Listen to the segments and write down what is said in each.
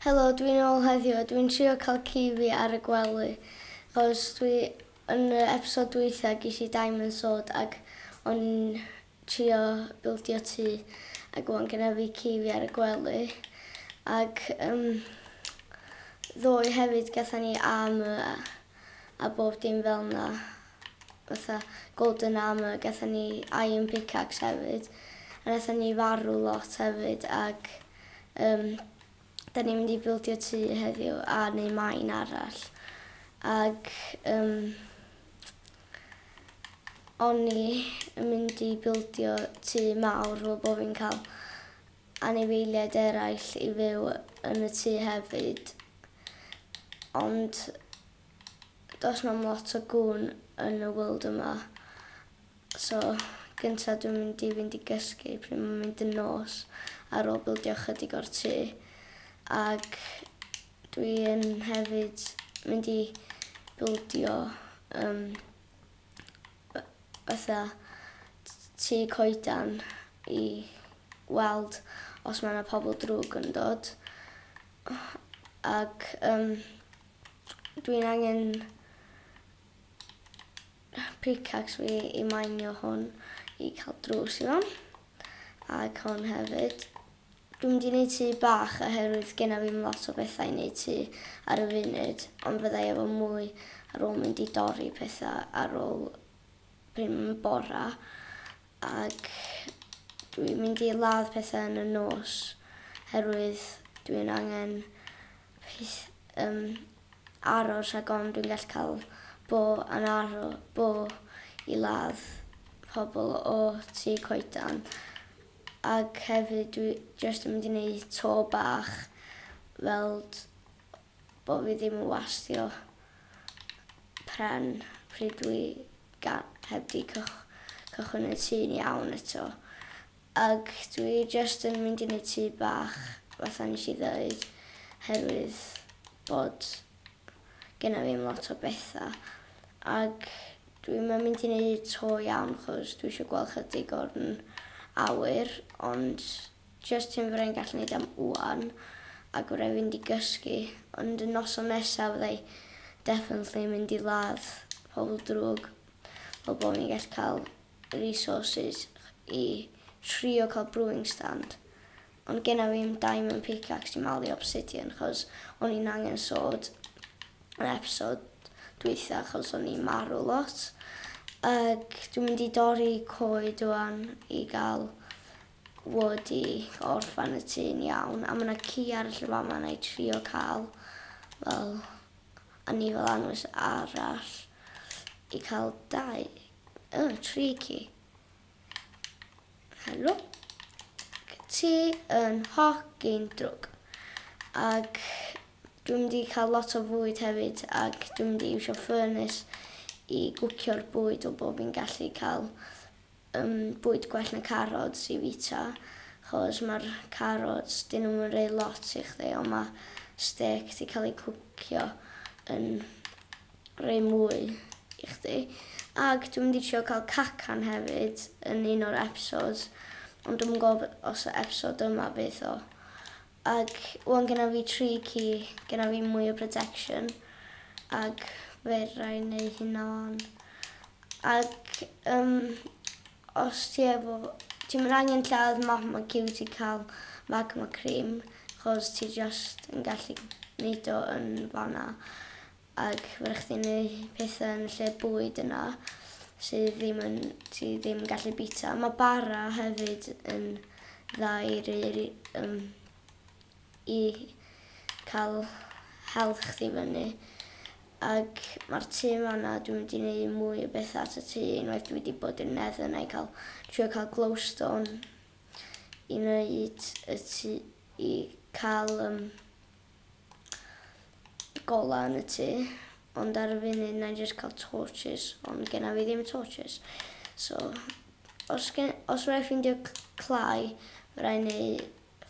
Helo, dwi'n ôl heddiw a dwi'n trio cael ci fi ar y gwely achos dwi yn yr episode dwytha ges i diamond sword ac o'n i'n trio bildio tŷ ac wan gyda fi ci fi ar y gwely ac um, ddoe hefyd gatha ni armor a, a bob dim fel na fatha golden armour gathon ni iron pickaxe hefyd a nathon ni farw lot hefyd ag yym da ni'n mynd i bildio tŷ heddiw a neu mine arall ag yym o'n i yn mynd i bildio tŷ mawr fel bo' fi'n ca'l anifeiliaid eraill i fyw yn y tŷ hefyd ond Does na'm lot o gŵn yn y world yma so gynta dwi'n mynd i fynd i gysgu pryd mae'n mynd yn nos ar ôl bildio ychydig o'r tŷ ac dwi yn hefyd mynd i bildio um, fatha tŷ coedan i weld os mae yna pobl drwg yn dod ac um, Dwi'n angen pickaxe fi i minio hwn i cael drws i fewn. Ac hwn hefyd. Dwi'n mynd i wneud tŷ bach oherwydd genna fi ddim lot o bethau i wneud tŷ ar y funud, ond fyddai efo mwy ar ôl mynd i dorri pethau ar ôl pryd mae'n bora. Ac dwi'n mynd i ladd pethau yn y nos oherwydd dwi'n angen Plîs yym aros rhag ofn dwi'n gallu cael bo yn aro bo i ladd pobl o tŷ coedan ag hefyd dwi jyst yn mynd i neud to bach weld bo fi ddim yn wastio pren pryd dwi ga- heb di cychwyn y tŷ'n iawn eto Ac dwi jyst yn mynd i neud tŷ bach, fatha nes i ddeud, oherwydd bod genna fi 'im lot o betha. Ac dwi'm yn mynd i neud to iawn chos dwi isio gweld chydig o'n awyr, ond jyst hyn fyddai'n gallu neud am ŵan, ac fyddai fynd i gysgu, ond y noson nesa fyddai definitely yn mynd i ladd pobl drwg, fel bo' fi'n gallu ca'l resources i trio cael brewing stand ond genna fi ddim diamond pickaxe i malu obsidian chos o'n i'n angen sword yn episod dwytha chos o'n i'n marw lot ac dwi'n mynd i dorri coed rwan i gael wood i orffan y tŷ'n iawn a mae yna ci arall yn fama na i trio cael fel a ni fel anwes arall i cael dau Oh, tricky. Helo. Ti yn hogyn drwg. Ac dwi'n mynd i cael lot o fwyd hefyd ac dwi'n mynd i iwsio ffyrnus i gwcio'r bwyd o bob fi'n gallu cael um, bwyd gwell na carods i fita chos mae'r carods dyn nhw'n mynd rei lot i chdi ond mae steak di cael ei cwcio yn rhoi mwy i chdi ag dwi'n mynd i trio cael cacan hefyd yn un o'r episodes ond dwi'm yn gwybod os y episode yma fydd o ag wan gyda fi tri ci gyda fi mwy o protection ag fe rai neu hynna wan ag um, os ti efo ti'n mynd angen lladd magma cyw ti cael magma cream chos ti just yn gallu neud o yn fanna Ac ma' raid chdi neu' petha yn y lle bwyd yna sy ddim yn ti ddim yn gallu bita. Ma' bara hefyd yn dda i roi ry- yym i ca'l health chdi fyny. Ag ma'r tŷ fana dwi mynd i neu' mwy o betha at y tŷ unwaith dwi 'di bod i'r neddle nai ca'l trio ca'l glowstone i neud y tŷ i ca'l yym golau yn y tŷ ond ar y funud wna i jyst cael torches ond genna fi ddim torches so os, gen, os rhaid ffeindio clai fe rhaid neu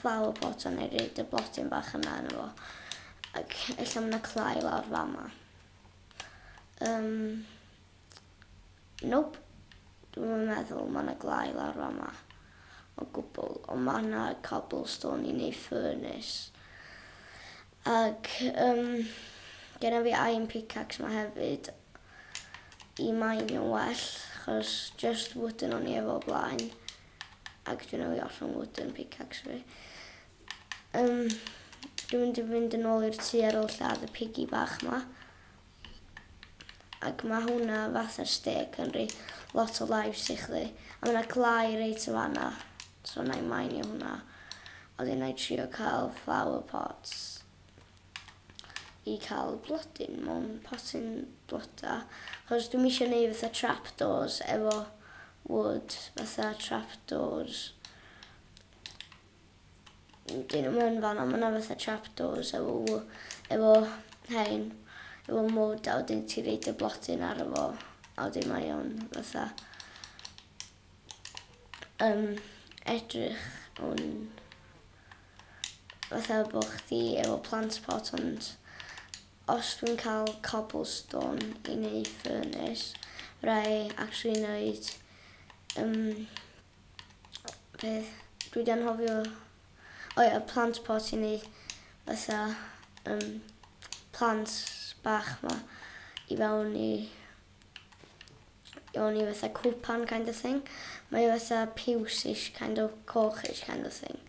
flower pot a neu reid y blodyn bach yna yn efo ac ella mae yna clai lawr fama um, Nope. Dwi'm yn meddwl ma' 'na glai lawr fama o gwbwl ond ma' 'na cobblestone i neu' furnace. Ag yym genna fi iron pickaxe 'ma hefyd i mainio'n well achos jyst wooden o'n i efo o blaen ag dwi newydd ollwng wooden pickaxe fi. Yym dwi'n mynd i fynd yn ôl i'r tŷ ar ôl lladd y piggy bach 'ma. Ac ma' hwnna fatha'r stêc yn rhoi lot o lives i chdi. A ma' 'na clai reit yn fan'na, so wna i mainio hwnna. A wedyn wna i trio cael flower pots i cael blodyn mewn potyn bloda. Achos dwi'm isio neud fatha trapdoors efo wood, fatha trapdoors. Dyn nhw'm yn fan'na ma' 'na fatha trapdoors efo w- efo rhein efo mwd a wedyn ti roid y blodyn arno fo a wedyn mae o'n fatha yym edrych yn fatha bo' chdi efo plant pot ond os dwi'n ca'l cobblestone i neu' furnace ra'i actually neud yym peth dwi 'di anghofio o ia plant pot i ni fatha yym plant bach 'ma i fewn i i fewn i fatha cwpan kind of thing. Mae o fatha piws-ish kind o coch-ish kind of thing.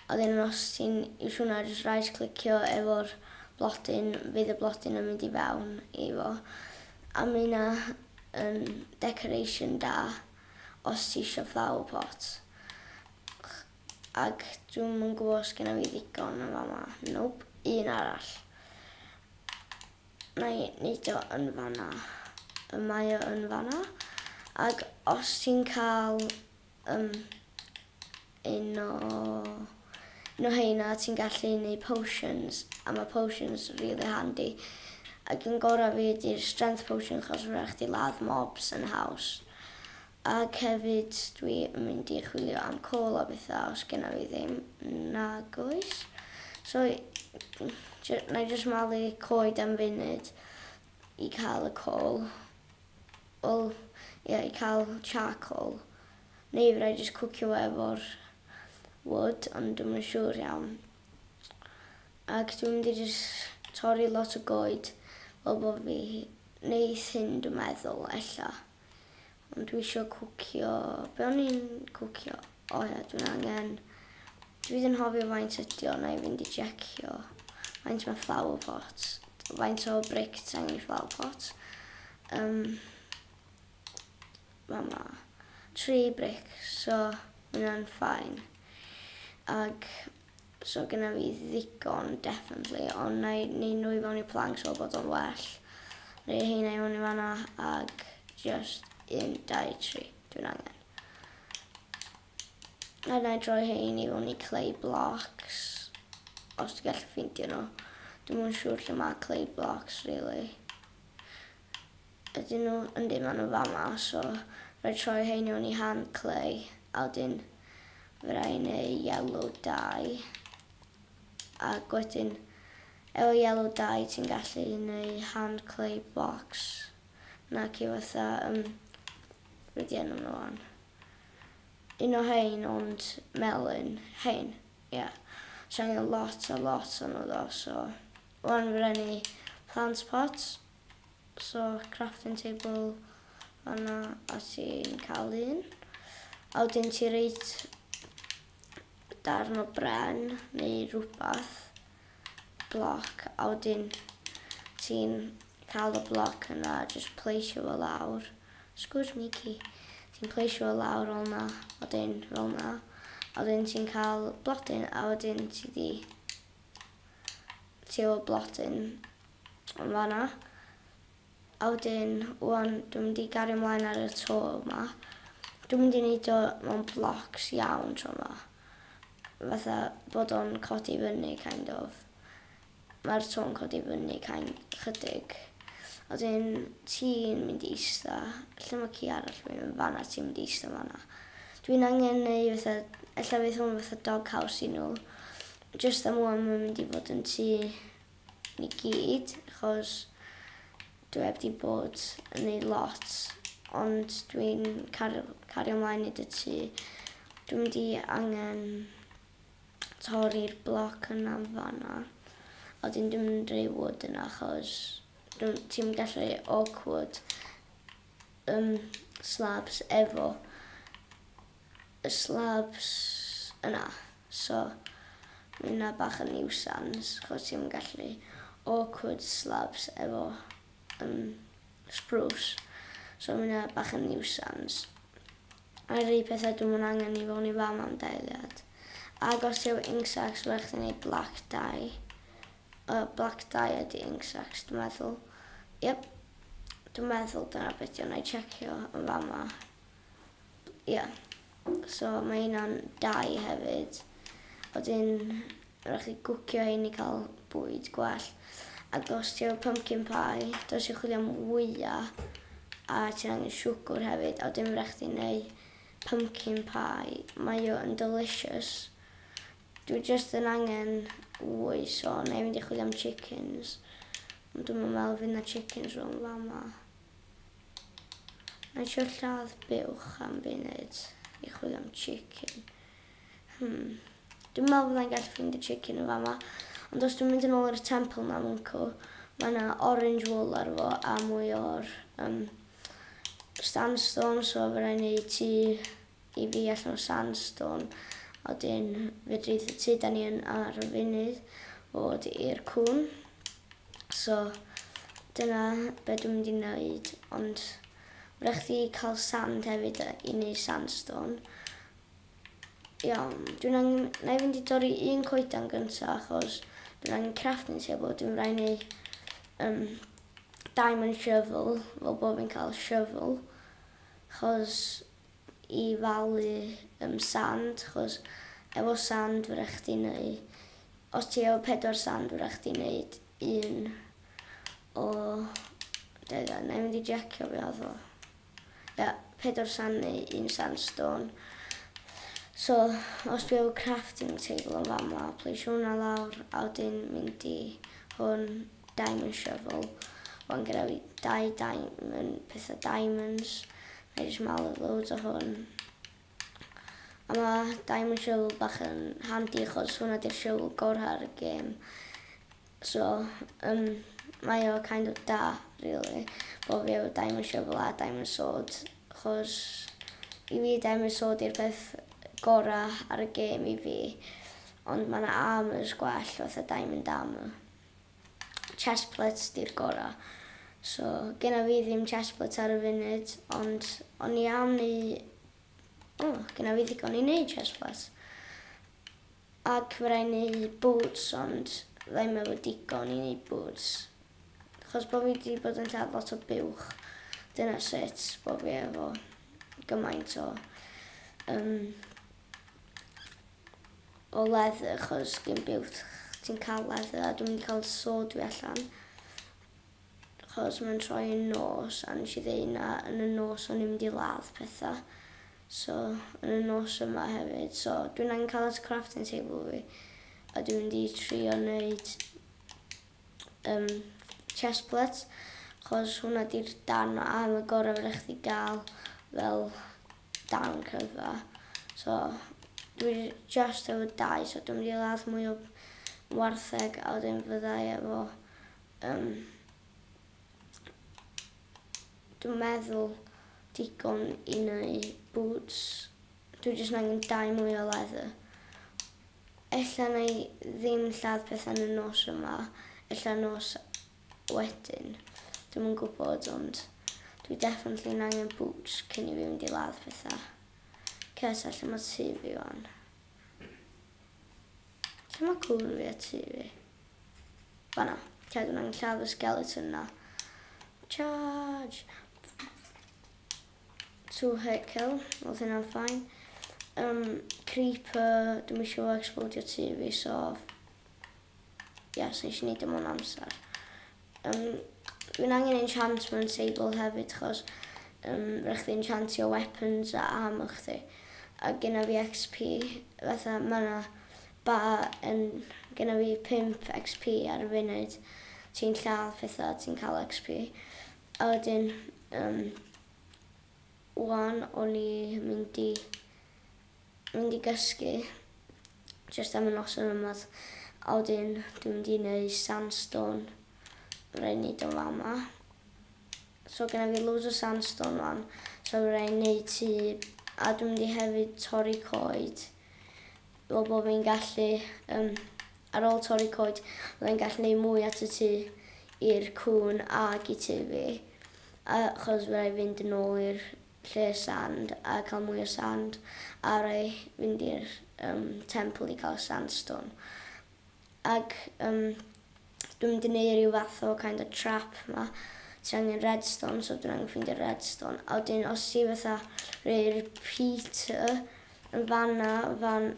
A wedyn os ti'n iwsio hwnna jyst right clicio efo'r blodyn fydd y blodyn yn mynd i fewn i fo. A ma' hynna yn decoration da. os ti isio flower pot. Ac dwi'm yn gwybod os genna fi ddigon yn fama. Nope, un arall. Na i neud o yn fanna. Y mae o yn fanna. Ac os ti'n cael um, Un o un o heina ti'n gallu neud potions a ma' potions rili handi ac un gora fi ydi'r strength potion achos ma' raid chdi ladd mobs yn haws ac hefyd dwi yn mynd i chwilio am coal a betha os genna fi ddim nag oes so jy- nai jyst malu coed am funud i ca'l y coal. Wel, ia, i cael charcoal, neu fedra i jyst cwcio fo efo'r wood, ond dwi'm yn siŵr iawn. Ac dwi'n mynd i jyst torri lot o goed, fel bo fi, neu thyn dwi'n meddwl, ella. Ond dwi isio cwcio, be o'n i'n cwcio? O ia dwi'n angen. Dwi ddim yn hofio faint ydi o, na'i fynd i jecio. Faint mae flower pot? Faint o bric ti angen i flower pot? Um, mae ma tri bric, so mae hwnna'n ffain. Ag, so gyda fi ddigon, definitely, ond na'i neud nhw i fewn i planks o bod o'n well. Neu heina i fewn i fanna, ag just un, dau, tri, dwi'n angen. A na i droi hein i fyny clay blocks os ti'n gallu ffeindio nhw. Dwi'n mwyn siŵr lle mae clay blocks, really. Ydyn nhw, yn dim ond yn fama, so rhaid troi hein i fyny hand clay, a wedyn fe rai i neu yellow dye. Ac wedyn, efo yellow dye ti'n gallu neu hand clay blocks. nac yw fatha yym be di enw nhw wan un o rhein ond melyn rhein ia so angen lot a lot o nhw ddo so wan fy rai ni plant pots so crafting table fanna a ti'n cael un a wedyn ti reit darn o bren neu rhywbeth bloc a wedyn ti'n cael y bloc yna a jyst pleisio fo lawr. Sgwrs Mici. Ti'n pleisio fo lawr fel yna, wedyn fel yna. A wedyn ti'n cael blodyn a wedyn ti di ti efo blodyn yn fanna. A wedyn ŵan dwi'n mynd i gario mlaen ar y to yma. Dwi'n mynd i neud o mewn blocs iawn tro yma. Fatha bod o'n codi fyny kind of. Mae'r to'n codi fyny kind, chydig. A wedyn ti'n mynd i ista, lle mae ci arall fi, yn fanna, ti'n mynd i ista fanna. Dwi'n angen neu fatha, ella fydd hwn fatha dog house i nhw. Jyst am ŵan mae'n mynd i fod yn tŷ i gyd achos dwi heb 'di bod yn neud lot ond dwi'n car- cario mlaen neud y tŷ. Dwi mynd i angen torri'r bloc yna yn fan'na a wedyn dwi mynd i roi wood yna achos dw- ti'm yn gallu roi oak wood yym slabs efo y slabs yna so ma' hynna bach yn niwsans achos ti'm yn gallu awkward slabs efo yym sbrws so ma' hynna bach yn niwsans. A rei petha dwi'm yn angen i fo'n i fam am dailiad. Ag os ti efo ink sacs ma' raid chdi neud black dye yy black dye ydi ink sacs dwi'n meddwl. Yep dwi'n meddwl dyna be' 'di o 'nai tsiecio yn fama. Ie. So mae hynna'n dai hefyd. A wedyn rhaid chi gwcio hyn i cael bwyd gwell. Ac os ti efo pumpkin pie, dwi eisiau chwilio am wyau a ti'n angen siwgr hefyd. A wedyn rhaid chdi neu pumpkin pie. Mae o yn delicious. Dwi just yn angen wy, so na i fynd i chwilio am chickens. Ond dwi'm yn meddwl fydd na chickens rhwng fama. Mae eisiau lladd buwch am funud i chwilio am chicken. Hmm. Dwi'n meddwl bod e'n gallu ffrind y chicken yn fama. Ond os dwi'n mynd yn ôl i'r temple na mwncw, mae yna orange wool ar fo a mwy o'r um, sandstone, so fe rhaid ni ti i fi allan o sandstone. A wedyn fe dreith y tu da ni yn ar y funud fod i'r cwn. So dyna be dwi'n mynd i neud ond ma' raid chdi ca'l sand hefyd yy i neud sandstone. Iawn dwi'n angen nâi fynd i dorri un coeden gynta achos dwi'n angen crafting table dwi'n mynd raid neu' yym diamond shovel fel bo' fi'n ca'l shovel achos i falu yym sand chos efo sand fedrwch chdi neu os ti efo pedwar sand fedrwch chdi neud un o dau dda nai mynd i jecio be odd o ia pedwar sand neu un sand stone so os dwi efo crafting table yn fama plesio hwnna lawr a wedyn mynd i hwn Diamond shovel, wan gyda fi dau diamond, pethau diamonds, na i jyst malu loads o hwn. A ma diamond shovel bach yn handi achos hwnna di'r shovel gorau ar y gêm. So, um, mae o kind of da, really, bod fi efo diamond shovel a diamond sword, achos i fi diamond sword i'r peth gorau ar y gêm i fi, ond mae yna armors gwell fatha diamond armor. chest plates di'r gora. So genna fi ddim chest plates ar y funud ond o'n i am neu o genna fi ddigon i neud chest plates. Ac fe rai neu boots ond ddim efo digon i neud boots. Chos bod fi wedi bod yn cael lot o buwch dyna sut bod fi efo gymaint o um, o leather achos gyn biwt ti'n cael leather a dwi'n mynd i cael sword fi allan achos mae'n troi yn nos a nes i ddweud na yn y nos o'n i'n mynd i ladd pethau so yn y nos yma hefyd so dwi'n angen cael at y crafting table fi a dwi'n mynd i trio wneud um, chest plates achos hwnna di'r darn o arm y gorau fydda chdi gael fel darn cryfa so dwi jyst efo dau so dwi'n mynd i ladd mwy o wartheg a wedyn fyddai efo um, dwi'n meddwl digon i neu boots dwi jyst yn angen dau mwy o leather ella na i ddim lladd pethau yn y nos yma ella nos Wedyn, dwi'm yn gwybod ond dwi definitely yn angen boots cyn i fi fynd i ladd pethau. Ces a lle mae tu fi wan? Lle mae cwbl fi a tu fi? Fanna. Ca dwi'n angen lladd y skeleton na. Charge! Two hit kill, oedd hynna'n ffain. Um, creeper, dwi'n eisiau fo explodio tu fi, so Yes, nes i neud dim e o'n amser. Um, Mae'n angen enchantment table hefyd, chos um, rhaid chdi enchantio weapons a armor chdi. A gyna fi XP, fatha mae yna ba yn... Gyna fi 5 XP ar y funud. Ti'n lladd pethau, ti'n cael XP. A wedyn, um, wan o'n i mynd i Dwi'n mynd i gysgu jyst am y noson yma a wedyn dwi'n mynd i neu sandstone fydda i'n neud o fama. So gynna fi loads o sandstone wan so fydda i'n neud tŷ a dwi'n mynd i hefyd torri coed fel bod fi'n gallu um, ar ôl torri coed fydda i'n gallu neud mwy at y tŷ i'r cwn ag i tŷ fi achos fydda i fynd yn ôl i'r lle sand a cael mwy o sand a roi fynd i'r um, temple i cael sandstone. Ac um, dwi'n mynd i wneud rhyw fath o kind of trap ma. Ti angen redstone, so dwi'n angen ffeindio redstone. A wedyn os ti fatha rhoi repeater yn fanna, fan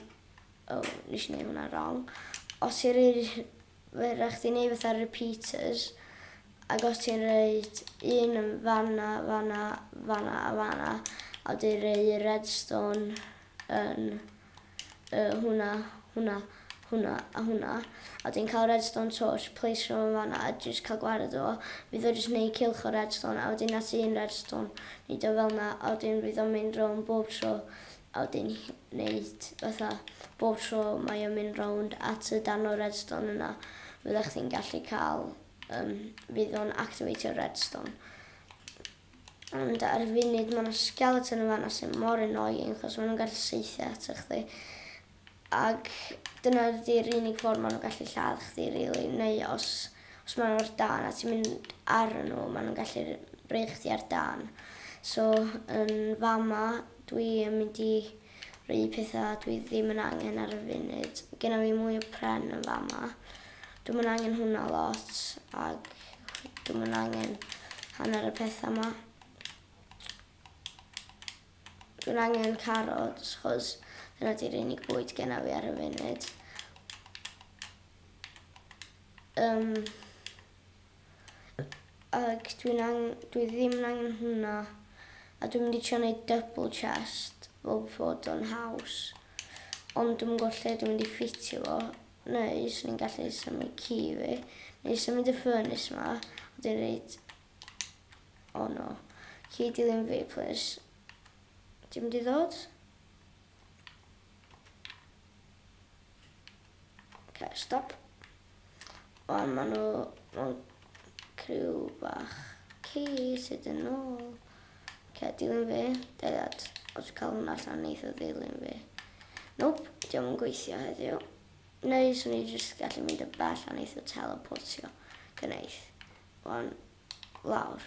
O, nes i neud hwnna rong. Os ti'n rhoi... Mae rhaid chdi neud fatha repeaters ac os ti'n rhaid un yn fanna, fanna, fanna a fanna a wedyn rhoi redstone yn uh, hwnna, hwnna, hwnna a hwnna a wedyn cael redstone torch, place rhywun fanna a jyst cael gwared o fydd o jyst neud cilch o redstone a wedyn at un redstone neud o fel na a wedyn fydd o'n mynd rhwng bob tro a wedyn neud fatha bob tro mae o'n mynd rownd at y darn o redstone yna fyddech chdi'n gallu cael um, fydd o'n activatio redstone ond ar y funud mae yna skeleton yn fanna sy'n mor annoying achos maen nhw'n gallu seithio at chdi Ac dyna ydi'r unig ffordd maen nhw'n gallu lladd chdi rili neu os os maen nhw ar dân a ti'n mynd arnyn nhw maen nhw'n gallu rhoi chdi ar dân. So yn fama dwi yn mynd i rhoi petha dwi ddim yn angen ar y funud. Genna fi mwy o pren yn fama. Dwi'm yn angen hwnna lot ac dwi'm yn angen hanner y petha 'ma. Dwi'n angen carots chos dyna di'r unig bwyd genna fi ar y funud. Um, ag dwi'n ang... dwi ddim yn angen hwnna. A dwi'n mynd i trio wneud double chest fel bod o'n haws. Ond dwi'n gwybod lle dwi'n mynd i ffitio fo. Neu, swn i'n gallu symud ci fi. Neu symud y ffyrnus yma. Dwi'n rhaid O oh no. Ci dilyn fi, plis. Ti'n mynd i ddod? Okay, stop. O, maen nhw... Maen criw bach. Ci sydd yn ôl. Okay, dilyn fi. Deliad. Os cael hwnna allan, neith o ddilyn fi. Nope, diolch yn gweithio heddiw. Neu swn i jyst gallu mynd y bell a neith o teleportio. Gwneud. Wan lawr.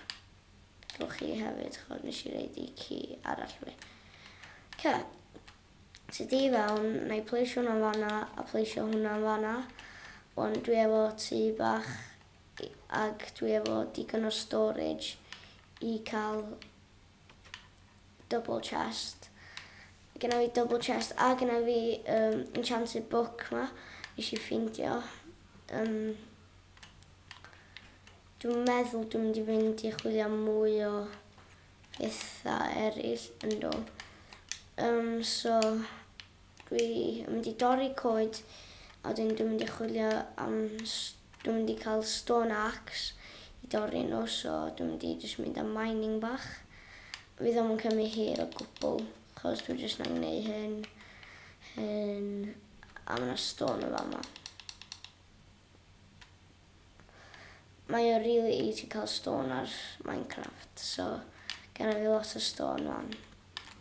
Gewch chi hefyd ch'od nesh i roid i ci arall fi. Oce. So du i fewn, na i pleisio hwnna yn fan'na a pleisio hwnna yn fan'na. Wan dwi efo tŷ bach i- ag dwi efo digon o storage i ca'l double chest. Genna fi double chest a genna fi yym enchanted book 'ma nesh i ffindio yn Dwi'n meddwl dwi'n mynd i fynd i chwilio am mwy o petha eraill yn do. Um, so, dwi yn mynd i dorri coed a wedyn dwi'n mynd i chwilio am... Dwi'n mynd i cael stone axe i dorri nhw, so dwi'n mynd i jyst mynd am mining bach. Fydd ddim yn cymryd hir o gwbl, chos dwi'n jyst yn gwneud hyn, hyn, a mae yna stone yn fama. Mae o rili easy cael stone ar Minecraft so genna fi lot o stone wan.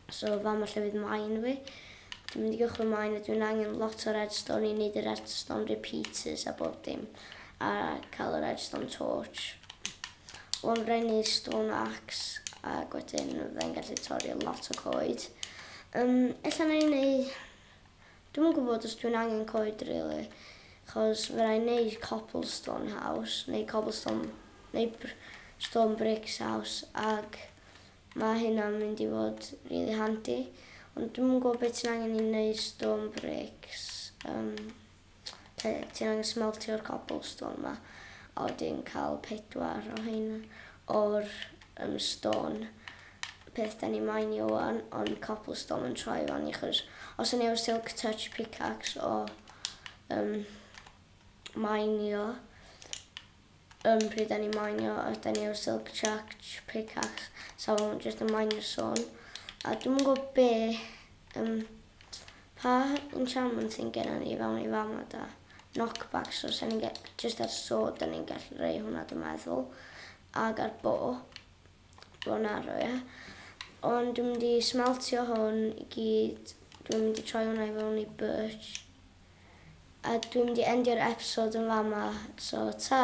So fama lle fydd mine fi. Dwi'n mynd i gychwyn mine a dwi'n angen lot o redstone i wneud y redstone repeaters a bob dim a cael y redstone torch. Wan brennu stone axe a wedyn fe'n gallu torri lot o coed. Um, ella na i wneud Dwi'm yn gwybod os dwi'n angen coed rili, achos fydda i'n neud cobblestone house neu cobblestone neu br- stone bricks house ag ma' hynna'n mynd i fod rili handi, ond dwi'm yn gwybod be' ti'n angen i neud stone bricks yym lle ti'n angen smeltio'r cobblestone 'ma a wedyn ca'l pedwar o rheina o'r Yym stôn. Peth deni moyn i ŵan ond copl stôn yn troi i fani achos os o'n i efo silk touch picax o yym moyn i o yym pryd o'n i moyn i o os deni efo silk touch picax sa fo'n mynd jyst yn moyn i stôn a dwi'm yn gwybod be yym pa enchantment sy'n genna ni fewn i fama da knockback so sa ni'n jyst ar sword o'n i'n gallu rei hwnna dwi'n meddwl ag ar bo, bo narrow ie. Ond dwi'n mynd i smeltio hwn i gyd, dwi'n mynd i troi hwnna i fewn i birch. A dwi'n mynd i endio'r episode yn fama, so ta!